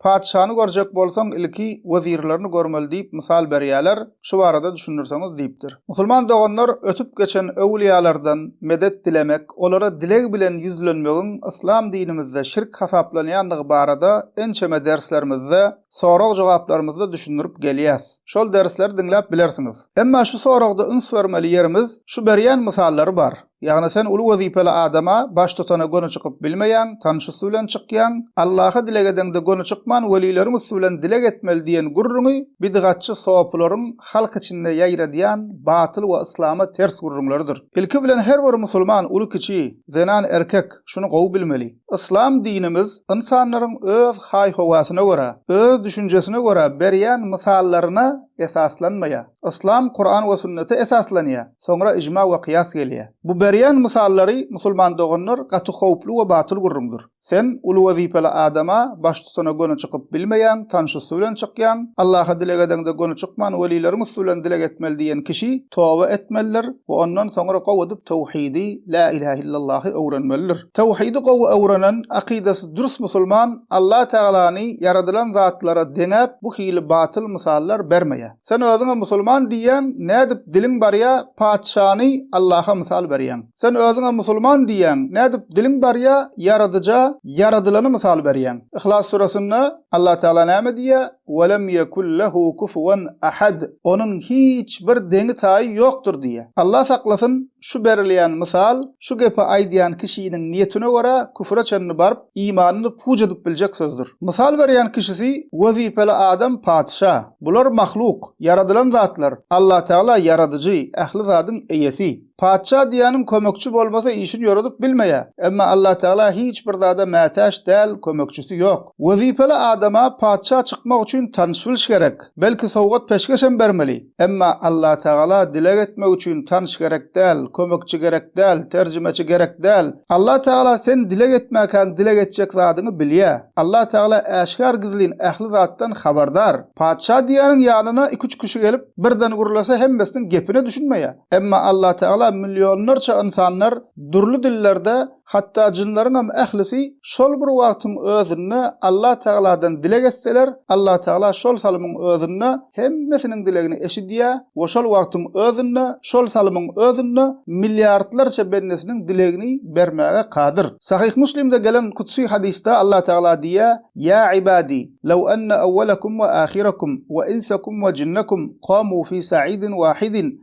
Patyşany görjek bolsaň, ilki wezirlerini görmeli diýip mysal berýärler, şu barada düşündirseňiz diýipdir. Musulman doganlar ötüp geçen öwlüýalardan medet dilemek, olara dileg bilen ýüzlenmegiň yslam dinimizde şirk hasaplanýandygy barada ençeme derslerimizde, sorag-jogaplarymyzda düşündirip gelýäs. Şol dersleri diňläp bilersiňiz. Emma şu soragda üns bermeli ýerimiz şu berýän mysallary bar. Ýagny sen uly wezipeli adama, baştutana göni çykyp bilmeýäň, tanyş üsti bilen çykýaň. Allaha dileg edeňde göni çykman welileriň üsti bilen dileg etmeli diýen gürrüňi bidgatçy sopularyň halk içinde ýaýradýan batyl we yslama ters gürrüňleridir. Ilki bilen her bir musulman, uly-kiçi, zenan, erkek, şuny gowy bilmeli. Yslam dinimiz ynsanlaryň öz haý-howasyna görä, öz düşünjesine görä berýän mysallaryna esaslanmaýar. Yslam Kuran we Sünnete esaslanýar, soňra ijma we kyýas gelýär. Bu berýän mysallary musulman doganlar gaty howply we batyl gürrüňdir. Sen uly wezipeli adama, baştutana göni çykyp bilmeýäň, tanş üsti bilen çykýaň. Allaha dileg edeňde göni çykman welileriň üsti bilen dileg etmeli diýen kişi toba etmelidir we ondan soňra gowy edip towhidi, lä ilähe illallahy, öwrenmelidir. Towhidi gowy öwrenen, akydasy dürs musulman Alla Tagalany ýaradylan zatlara deňäp bu hili batyl mysallar bermeýär. Sen özüňe musulman diýýäň, nädip diliň barýa patyşany Allaha mysal berýäň? Sen özüňe musulman diýýäň, nädip diliň barýa Ýaradyja ýaradylany mysal berýäň? Yhlas suresinde Allah Tagala näme diýýä? Welem ýekun lehu kufuwan ahad, Onuň hiç bir deňi-taýy ýokdur diýýä. Allah saklasyn, şu berilýän mysal şu gepi aýdýan kişiniň niýetine görä küfre çenli baryp, imanyny puç edip biljek sözdür. Mysal berýän kişisi, wezipeli adam, patyşa. Bular mahluk, ýaradylan zatlar, Allatagala ýaradyjy, ähli zadyň eýesi. Patyşa diýýäniň kömekçi bolmasa işini ýoradyp bilmeýär. Emma Allatagala hiç bir zada mätäç däl, kömekçisi ýok. Wezipeli adama patyşa çykmak üçin tanyş-bilş gerek. Belki sowgat-peşgeşem bermeli. Emma Allatagala dileg etmek üçin tanyş gerek däl, kömekçi gerek däl, terjimeçi gerek däl. Allatagala sen dileg etmäkäň dileg etjek zadyňy bilýä. Allatagala äşgär gizlin ähli zatdan habardar. Patyşa diýýäniň ýanyna iki-üç kişi gelip, birden gürlese hemmesiniň gepine düşünmeýä. Emma Allatagala millionlarça ynsanlar dürli dillerde Hatda jynlaryňam ählisi şol bir wagtyň özünde Allatagaladan dileg etseler, Allatagala şol salymyň özünde hemmesiniň dilegini eşidýär we şol wagtyň özünde, şol salymyň özünde milliardlarça bendesiniň dilegini bermäge kadyr. Sahyh Muslimde gelen kudsy hadysda Allatagala diýýär, Ýa ibadi, lew enne awwalakum we ahirakum we insakum we jinnakum kamu fi sa'idin wahidin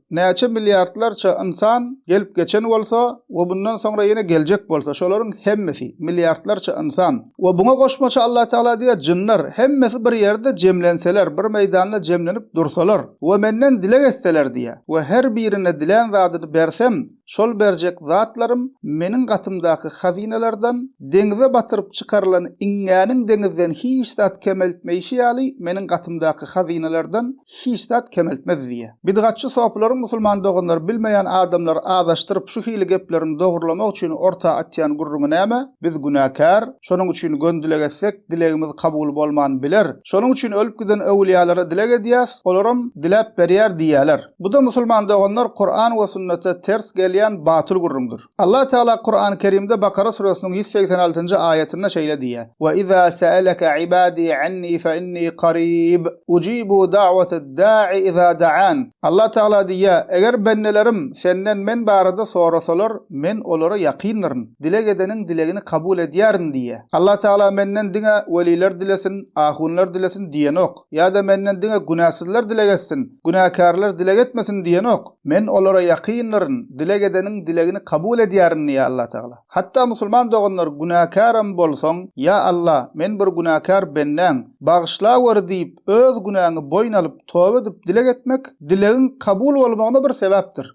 Näçe milliardlarça ynsan gelip geçen bolsa we bundan soňra ýene geljek bolsa şolaryň hemmesi, milliardlarça ynsan we buňa goşmaça Allatagala diýýär jynlar hemmesi bir ýerde jemlenseler, bir meýdanda jemlenip dursalar we menden dileg etseler diýýär we her birine dilän zadyny bersem, Şol berjek zatlarym meniň gatymdaky hazynalardan, deňize batyryp çykarylan iňňäniň deňizden hiç zat kemeltmeýşi ýaly meniň gatymdaky hazynalardan hiç zat kemeltmez diýýär. Bidgatçy sopylaryň musulman doganlary bilmeýän adamlary azaşdyryp şu hili gepleriň dogrylamak üçin orta atýan gürrüňi näme? Biz günäkär, şonuň üçin gön dileg etsek dilegimiz kabul bolman biler. Şonuň üçin ölüp giden öwülýalara dileg edýäs, olaram diläp berýär diýýäler. Bu-da musulman doganlar Kuran we sünnete ters gelýän batyl gürrüňdir. Allah Tagala Kurany Kerimde Bakara süresiniň ýüz segsen altynjy aýatynda şeýle diýýär, Ve iza sa'alaka ibadi anni fe inni qarib, ujibu da'watad da'i iza da'an. Allah Tagala diýýär, Eger bendelerim senden men barada sorasalar, men olara ýakyndyryn, dileg edeniň dilegini kabul edýärin diýýär. Allah Tagala menden diňe weliler dilesin, ahunlar dilesin diýenok. Ýa-da menden diňe günäsizler dileg etsin, günäkärler dileg etmesin diýenok. Men olara ýakynlaryn, dileg edeniň dilegini kabul edýärin diýýär Allatagala. Hatda musulman doganlar günäkärem bolsaň, Ýa Alla, men bir günäkär bendäň, bagyşlaweri diýip, öz günäňi boýun alyp, toba edip dileg etmek, dilegiň kabul bolmagyna bir sebäpdir.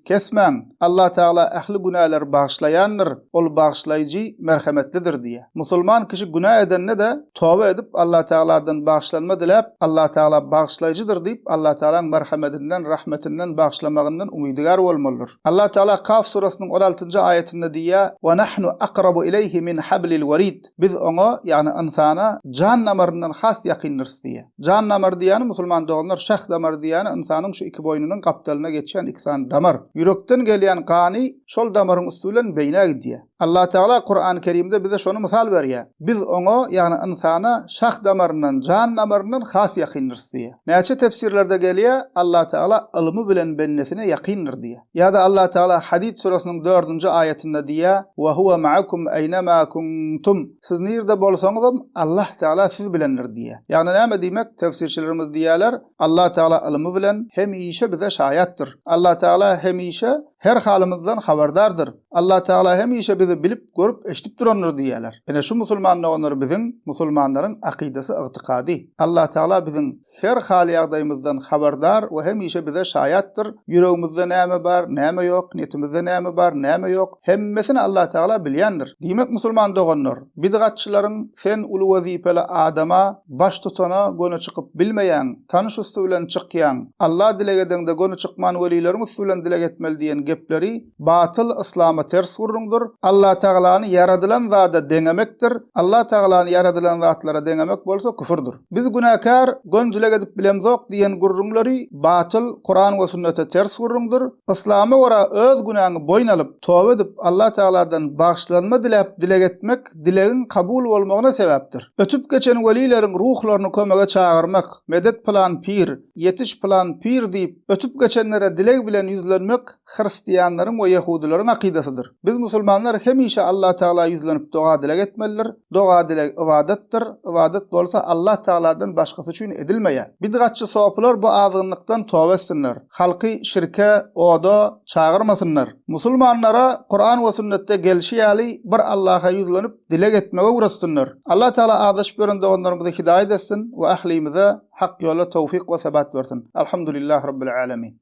Kesmäň, Allah Tagala ähli günäleri bagyşlaýandyr, Ol Bagyşlaýjy, Merhemetlidir diýýär. Musulman kişi günä edende-de, toba edip, Allah Tagaladan bagyşlanma diläp, Allah Tagala Bagyşlaýjydyr diýip, Allah Tagalaň merhemetinden, rahmetinden, bagyşlamagyndan umydygär bolmalydyr. Allah Tagala Kaf surasynyň on altynjy aýatynda diýýär, Wa nahnu akrabu ileýhi min hablil werid. Biz oňa, ýagny ynsana jan damaryndan has ýakyndyrys diýýär. Jan damary diýýäni, musulman doganlar, şah damary diýýäni ynsanyň şu iki boýnunyň gapdalynda geçýän iki sany damar. Ýürekden gelýän gany şol damaryň üsti bilen beýnä gidýär. Allatagala Kurany Kerimde bize şony mysal berýär. Biz oňa, ýagny ynsana şah damaryndan, jan damaryndan has ýakyndyrys diýýär. Näçe tefsirlerde gelýär, Allatagala ylmy bilen bendesine ýakyndyr diýýär. Ýa-da Allah Tagala Hadid süresiniň dördünji aýatynda diýýär, Wa huwa ma'akum aýnama kuntum, Siz nirde bolsaňyzam, Allah Tagala siz bilendir diýýär. Ýagny näme diýmek? Tefsirçilerimiz diýýärler, Allah Tagala ylmy bilen hemişe bize şaýatdyr. Allah Tagala hemişe her halymyzdan habardardyr. Allah Tagala hemişe bizi bilip, görüp, eşidip durandyr diýýärler. Ine şu musulman doganlar biziň, musulmanlaryň akydasy, ygtykady. Allah Tagala biziň her hal-ýagdaýymyzdan habardar we hemişe bize şaýatdyr. Ýüregimizde näme bar, näme ýok, niýetimizde näme bar, näme ýok, hemmesini Allatagala bilýändir. Diýmek, musulman doganlar, bidgatçylaryň sen uly wezipeli adama, baştutana göni çykyp bilmeýäň, tanyş üsti bilen çykýaň, Alla dileg edeňde göni çykman welileriň üsti bilen dileg etmeli diýen gepleri, Batyl Yslama ters gürrüňdir. Allatagalany ýaradylan zada deňemekdir. Allatagalany ýaradylan zatlara deňemek bolsa küfürdir. Biz günäkär, gönzüleg edip bilemzok diýen gürrüňleri batyl, Kuran we sünnete ters gürrüňdir. Yslama görä öz günäňi boýun alyp, toba edip, Allatagaladan bagyşlanma diläp dileg etmek dilegiň kabul bolmagyna sebäpdir. Ötüp geçen welileriň ruhlaryny kömege çagyrmak, medet pylan pir, ýetiş pylan pir diýip, ötüp geçenlere dileg bilen ýüzlenmek, hristianlaryň we ýehudylaryň akydasydyr. Biz musulmanlar hemişe Allah Tagala ýüzlenip doga-dileg etmelidir. Doga-dileg ybadatdyr. Ybadat bolsa Allah Tagaladan başgasy üçin edilmeýär. Bidgatçy sopylar bu azgynlykdan toba etsinler. Halky şirke, oda, çagyrmasynlar. Musulmanlara Kuran we sünnetde gelşi ýaly bir Allaha ýüzlenip dileg etmegi öwretsinler. Allah Tagala azaşyp ýören doganlarymyzy hidaýat etsin we ählimize hak ýola towfyk we sebat bersin. Alhamdulillah Rabbil Alemin.